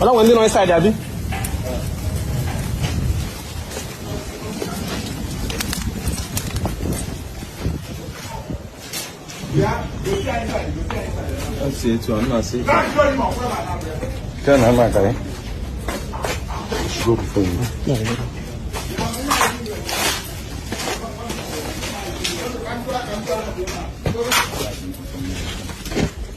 Ọla nwere ndị nọ inside abi? Asi etu a nna asị. Nke na ama akara. Go before you.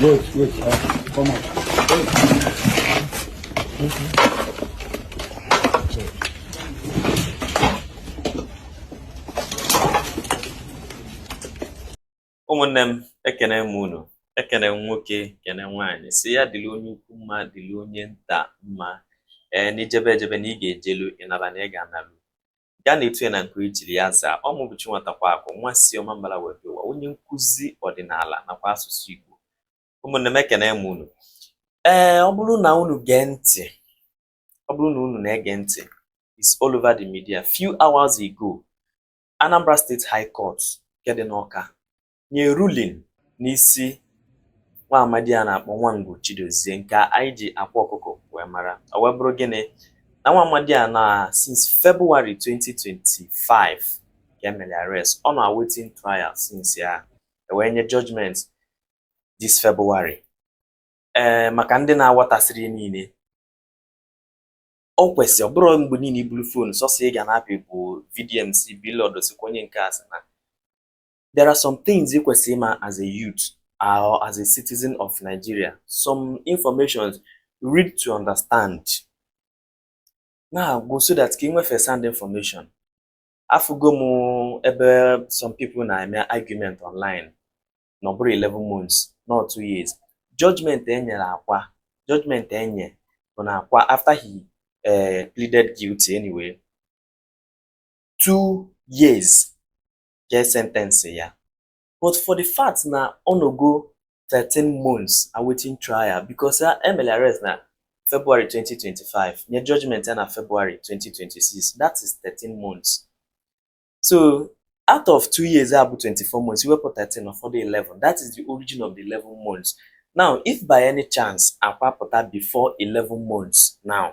Wait, wait, uh, come on. ụmụnne m ekene m unu ekene m nwoke kene nwaanyị sị ya dịrị onye ukwu mma dịrị onye nta mma ee na i jebe ejebe na ị ga-ejelu ị naba na ị ga-analu ga na-etu ya na nke e jiri ya zaa ọ mụ bụ Chinwatakwa Akụ nwa si Ọmambala wee bịa ụwa onye nkụzi ọdịnala nakwa asụsụ Igbo ụmụnne m ekene m unu ee ọ bụrụ na unu gee ntị ọ bụrụ na unu na-ege ntị it's all over the media few hours ago Anambra State High Court nke dị n'Ọka nye ruling n'isi nwa amadi a na-akpọ Nwangwu Chidozie nke anyị ji Akwa Ọkụkọ wee mara ọ wee bụrụ gịnị na nwa amadi a na since February 2025 ka e mere arrest ọ na awaiting trial since ya e wee nye judgment this February ee eh, maka ndị na-aghọtasịrị niile o kwesịrị ọ bụrụ mgbe niile i buru phone sọsọ ị ga na-apị bụ VDM sị Blord sịkwa onye nke a sị na there are some things ị kwesịrị ịma as a youth or as a citizen of Nigeria some information read to understand na-agụ so that ka ị nwee first hand information afụgo m ebe some people na-eme argument online na ọ bụrụ 11 months not 2 years judgment e nyere Akwa judgment e nye bụ na Akwa after he uh, pleaded guilty anyway two years ka e sentence ya but for the fact na ọ nọgo 13 months awaiting trial because e mere arrest na February 2025 nye judgment ya na February 2026 that is 13 months so out of two years ya bụ 24 months i wepụ 13 ọ fọdụ 11 that is the origin of the 11 months now if by any chance Akwa pụta before 11 months now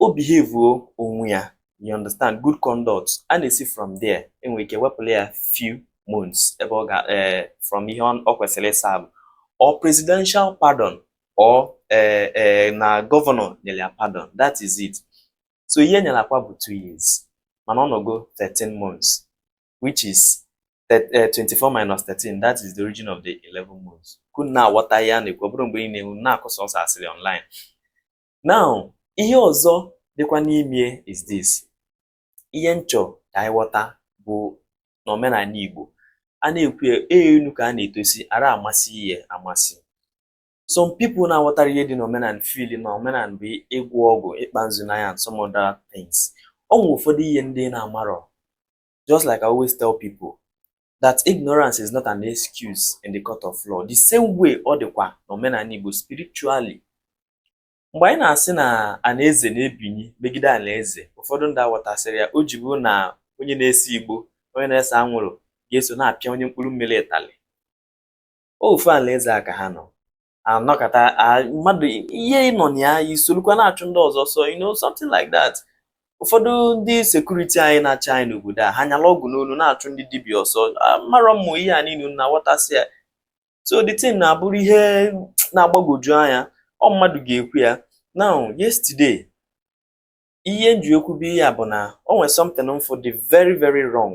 o behavuo onwe ya you understand good conduct a na-esi from there enwere ike wepụla ya few months ebe ọ ga eh, from ihe ọ kwesịrị ịsavụ or presidential pardon or eh, eh, na gọvanọ nyere ya pardon that is it so ihe e nyere Akwa bụ two years mana ọ nọgo 13 months which is 24 minus 13 that is the origin of the 11 months ka unu na-aghọta ihe a na-ekwu ọ bụrọ mgbe ọbụna unu na-akụ sọsọ asịrị online now ihe ọzọ dịkwa n'ime is this ihe nchọ ka anyị ghọta bụ n'omenala Igbo a na-ekwu enu ka a na-etosi ara amasị ihe amasị some people na-aghọtarọ ihe dị n'omenala feel na omenala bụ ịgwọ ọgwụ ịkpa nzu n'anya and some other things ọ nwere ụfọdụ ihe ndị na-amarọ just like I always tell people that ignorance is not an excuse in the court of law the same way ọ dịkwa n'omenala Igbo spiritually mgbe anyị na-asị na anaeze na-ebinyi megide anaeze ụfọdụ ndị aghọtasịrọ ya o ji bụ na onye na-ese igbo onye na-ese anwụrụ ga-eso na-apịa onye mkpụrụ mmiri ịtalị ofu alaeze a ka ha nọ anọkọta mmadụ ihe ị nọ na ya i solukwa na-achụ ndị ọzọ so you know something like that ụfọdụ ndị security anyị na-achị anyị n'obodo a ha nyala ọgwụ n'olu na-achụ ndị dibịa ọsọ marọ mmụ ihe a niile na-aghọtasị ya so the thing na-abụrụ ihe na-agbagwoju anya ọ mmadụ ga-ekwu ya now yesterday ihe nji ekwu bụ ihe a bụ na o nwere something m fụ dị very very wrong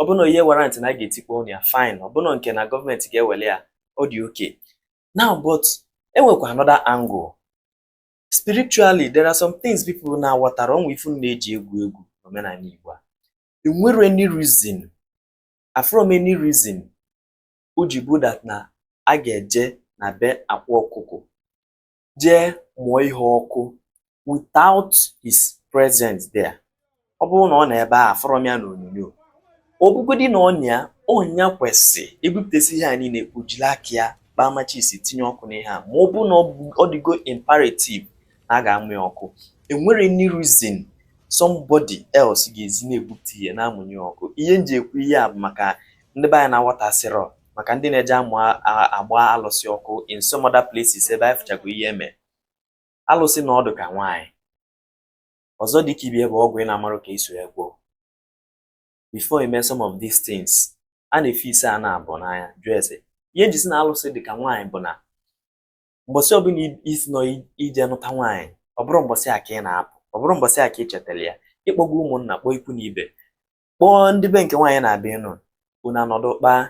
ọ bụrụ na ihe warrant na a ga-etikpọ ụnọ ya fine ọ bụrụ nke na gọọmenti ga-ewere ya ọ dị okay now but enwekwa another angle spiritually there are some things people na-aghọtarọ ọ nwe ife unu na-eji egwu egwu n'omenala Igbo enwerọ any reason afụrọ m any reason o ji bụ that na a ga-eje na be Akwa Ọkụkọ jee mụọ ihe ọkụ without his presence there ọ bụrụ na ọ nọ ebe a afụrọ m ya na onyonyo ọ bụgodi na ọ nya ọ nya kwesị ebupụtasị ihe a niile o jiri aka ya kpaa machis tinye ọkụ n'ihe a ma ọ bụ na ọ dịgo imperative na a ga-amụ ya ọkụ enwerọ any reason somebody else ga-eji na-ebupụta ihe na-amụnye ọkụ ihe m ji ekwu ihe a bụ maka ndị be anyị na-aghọtasịrọ maka ndị na-eje amụ agba alụsị ọkụ in some other places ebe anyị fụchago ihe eme alụsị na ọ dị ka nwaanyị ọzọ dị ka ibe bụ ọgwụ ị na-amarọ ka e si ya gwọọ before ị me some of these things a na-efe ise a na-abụ n'anya jụọ ese ihe nji sị na alụsị dị ka nwaanyị bụ na mbọsị ọbụla i si nọ ije nụta nwaanyị ọ bụrọ mbọsị a ka ị na-apụ ọ bụrọ mbọsị a ka ị chetara ya ị kpọgo ụmụnna kpọọ ikwu na ibe kpọọ ndị be nke nwaanyị na-abịa ịnụ unu anọdụ kpaa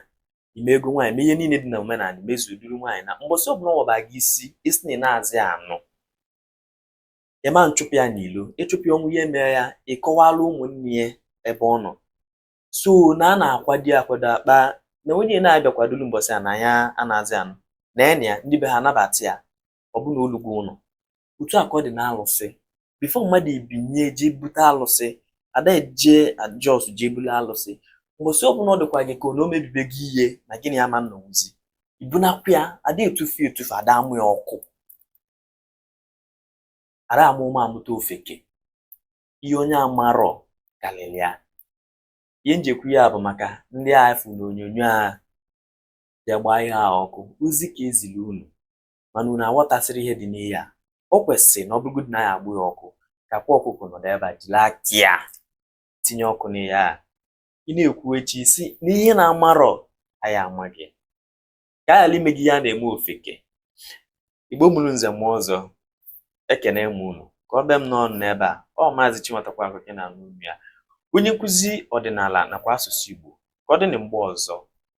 ime ego nwaanyị mee ihe niile dị na omenala mezuo duru nwaanyị na mbọsị ọbụla ọ waba gị isi ị sị na ị nazị anụ ị ma achụpụ ya n'ilo ị chụpụ ya o nwee ihe mere ya ị kọwala ụmụnne ya ebe ọ nọ so na a na-akwado akwado akpa na onye na-abịa kwadolu mbọsị a na ya anazị anụ na ya na ya ndị be ha anabata ya ọ bụ na o lugo ụnọ otu a ka ọ dị na alụsị before mmadụ ebinye jee bute alụsị ada eje just jee bulu alụsị mbọsị ọbụla ọ dịkwa gị ka na o mebibe gị ihe na gị na ya ama nọnwuzi i bunakwa ya ada etufu etufu ada amụ ya ọkụ ada ama ụma amụta ofeke ihe onye amarọ karịrị ya ihe m ji ekwu ya bụ maka ndị afụ na onyonyo a bịa gbaa ihe a ọkụ ozi ka e zili unu mana unu aghọtasịrọ ihe dị n'ihe a o kwesịrị na ọ bụrụgodị na a ya-agba ya ọkụ ka Akwa Ọkụkọ nọdụ ebe a jiri aka tinye ọkụ n'ihe a ị na-ekwuchi isi n'ihe na-amarọ anyị amaghị ka a ghara ime gị ihe a na-eme ofeke igbo mụrụ nze mụọ ọzọ ekene m unu ka o bie m n'ọnụ n'ebe a ọ maazị Chinwatakwaakụ ka ị na-anụ onu ya onye nkụzi ọdịnala nakwa asụsụ Igbo ka ọ dị na mgbe ọzọ